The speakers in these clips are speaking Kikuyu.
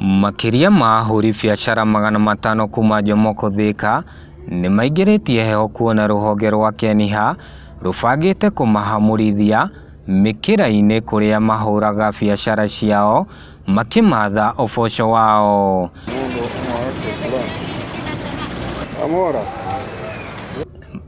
Makĩria ma ahũri biacara magana matano kuma Jomoko Thika nĩmaingĩrĩtie heho kuona rũhonge rwa Keniha rũbangĩte kũmahamũrithia mĩkĩra-inĩ kũrĩa mahũraga biacara ciao makĩmatha ũboco wao.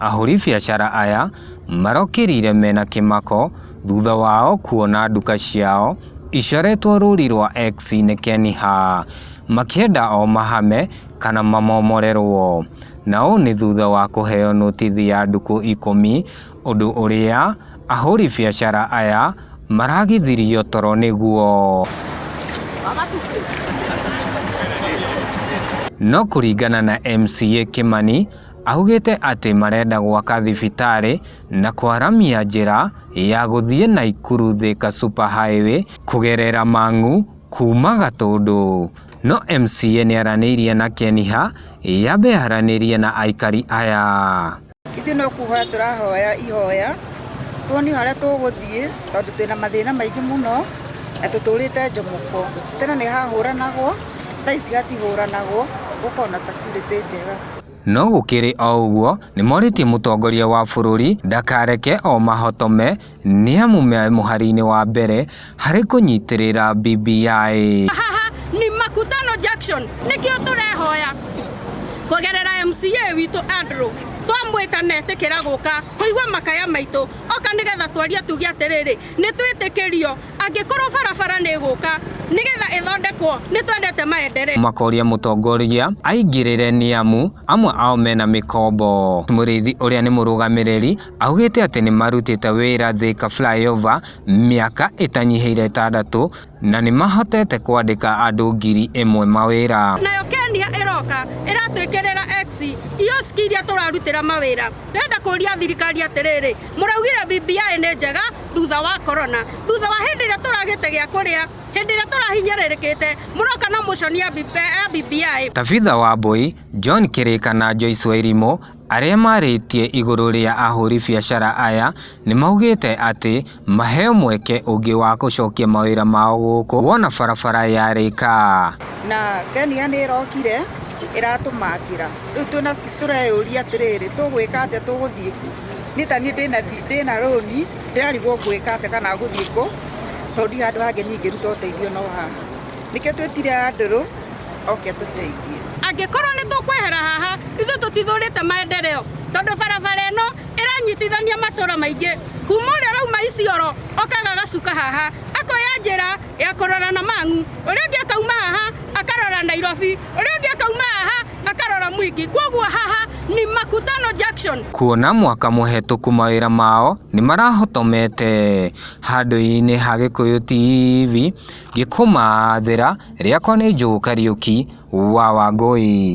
Ahũri biacara aya marokĩrire mena kĩmako thutha wao kuona nduka ciao Icaretwo rũũri rwa X nĩ Keni Ha, makĩenda o mahame kana mamomorerwo. Na ũũ nĩ thutha wa kũheo nũtithi ya ndukũ ikũmi ũndũ ũrĩa ahũri biacara aya maragithirio toro nĩguo. No kũringana na MCA Kĩmani augĩte atĩ marenda gwaka thibitarĩ. na kwaramia njĩra ya gũthiĩ Naikuru Thika Super Highway kũgerera Mang'u kuuma Gatũndũ. No MCA nĩaranĩirie na Keniha yambe yaranĩrie na aikari aya. Ithuĩ no kũhoya tũrahoya ihoya tuonio harĩa tũgũthiĩ tondũ twĩna mathĩna maingĩ mũno na tũtũrĩte njomoko. Tene nĩ hahũranagwo thaa ici hatihũranagwo gũkoragwo na security njega. No gũkĩrĩ o ũguo, nĩmorĩtie mũtongoria wa bũrũri ndakareke o mahotome nĩamu me mũharĩinĩ wa mbere harĩ kũnyitĩrĩra BBI. Haha ni Makutano Junction nikio turehoya kugerera MCA witũ Andrew twamwĩta na etĩkĩra gũka kũigua makaya maitũ oka nĩgetha twarie tuge atĩrĩrĩ nĩtwĩtĩkĩrio Angĩkorwo barabara nĩgũka nĩgetha ĩthondekwo nĩtwendete maendereo. Makoria mũtongorgia aingĩrĩre nĩamu amwe ao mena mĩkombo. Mũrĩithi ũrĩa nĩ mũrũgamĩrĩri augĩte atĩ nĩmarutĩte wĩra Thĩka Flyover mĩaka ĩtanyihĩire ĩtandatũ na nĩmahotete kwandĩka andũ ngiri ĩmwe mawĩra. Nayo Kenya ĩroka ĩratwĩkĩrĩra XIOSC iria tũrarutĩra mawĩra. Ndĩrenda kũria thirikari atĩrĩrĩ, mũraugire BBI nĩ njega thutha wa corona thutha wa hĩndĩ ĩrĩa tũragĩte gĩa kũrĩa hĩndĩ ĩrĩa tũrahinyĩrĩrĩkĩte mũroka na motion ya BBI. Tabitha Wambũi, John Kĩrĩka na Joyce Wairimũ arĩa marĩtie igũrũ rĩa ahũri biacara aya nĩmaugĩte atĩ maheo mweke ũngĩ wa gũcokia mawĩra mao gũkũ wona barabara yarĩka. Na Kenya nĩ ĩrokire ĩratũmakĩra. Rĩu twĩna tũreyũria atĩrĩrĩ tũgwĩka atĩa tũgũthiĩ kũ? Niĩ ta niĩ ndĩna thi- ndĩna rũni ndĩrarigwo ngwĩka atĩa kana gũthiĩ kũ tondũ ndirĩ handũ hangĩ niĩ ingĩruta ũteithio no haha nĩkĩo twĩtire andũrũ oke tũteithie angĩkorwo nĩ tũkwehera haha ithuĩ tũtithũrĩte maendereo tondũ barabara ĩno ĩranyitithania matũra maingĩ kuma ũrĩa ũrauma Isiolo okaga agacuka haha akoya njĩra ya kũrora na mang'u ũrĩa ũngĩ akauma haha akarora Nairobi ũrĩa ũngĩ akauma haha akarora mwingi kwoguo haha ni makutano junction kuona mwaka mũhetũku mawĩra mao nĩ marahotomete. Handũ-inĩ ha Gĩkũyũ TV, ngĩkũmathĩra, rĩakwa nĩ Joe Kariuki wa Wangũi.